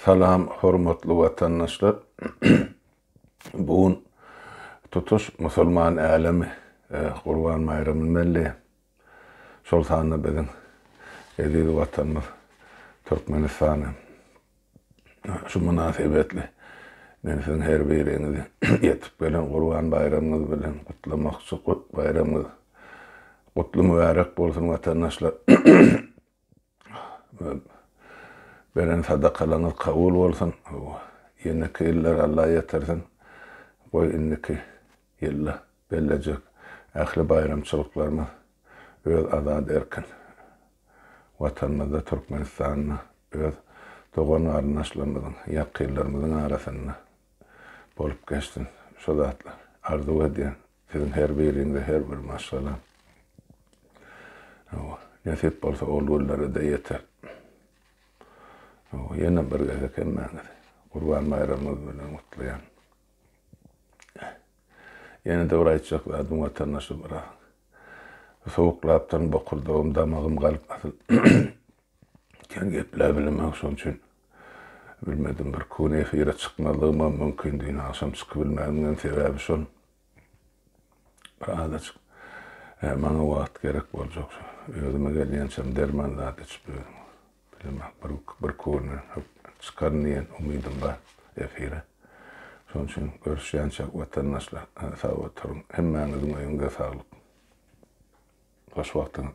Salam hormatly watandaşlar bu gün tutuş musulman älemi gurban baýramyny belleýär. Şol sanda biziň eziz watanymyz Türkmenistan hem. Şu mynasybetli men siziň her biriňizi ýetip gelen gurban baýramyňyz bilen gutlamakçy baýramyňyz gutly mübärek bolsun watandaşlar. Beren sadakalaryňyz kabul bolsun. Ýeneki ýyllara Alla ýetirsin. Goý indiki ýylda bellejek ähli baýramçylyklarymyz öz azat erkin Watanymyzda Türkmenistanda öz dogan garyndaşlarymyzyň, ýakynlarymyzyň arasynda bolup geçsin. Şo zatlar arzuw edýän Siziň her biriňize her bir maşgala nesip bolsa ol günlere-de ýeter. Ýene bir gezek hemmäňizi Gurban baýramyňyz bilen gutlaýan. Ýene-de bir aýtjak zadym watandaşlar biraz sowuklapdyryn, bokurdagym, damagym galyp asyl kän gepläp bilemek şoň üçin. Bilmedim, birki gün efire çykmazlygymam mümkin, dini agşam çykybilmänimem sebäbi şol. Bir azajyk maňa wagt gerek boljak. Özüme gelýänçäm derman zat içip ýörün. Bilemok, birki günden hökman çykaryn diýen umydym bar efire. Şonuň üçin görüşýänçäk watandaşlar, sag oturyň. Hemmäňiziň öýüňize saglyk. Hoş wagtyňyz.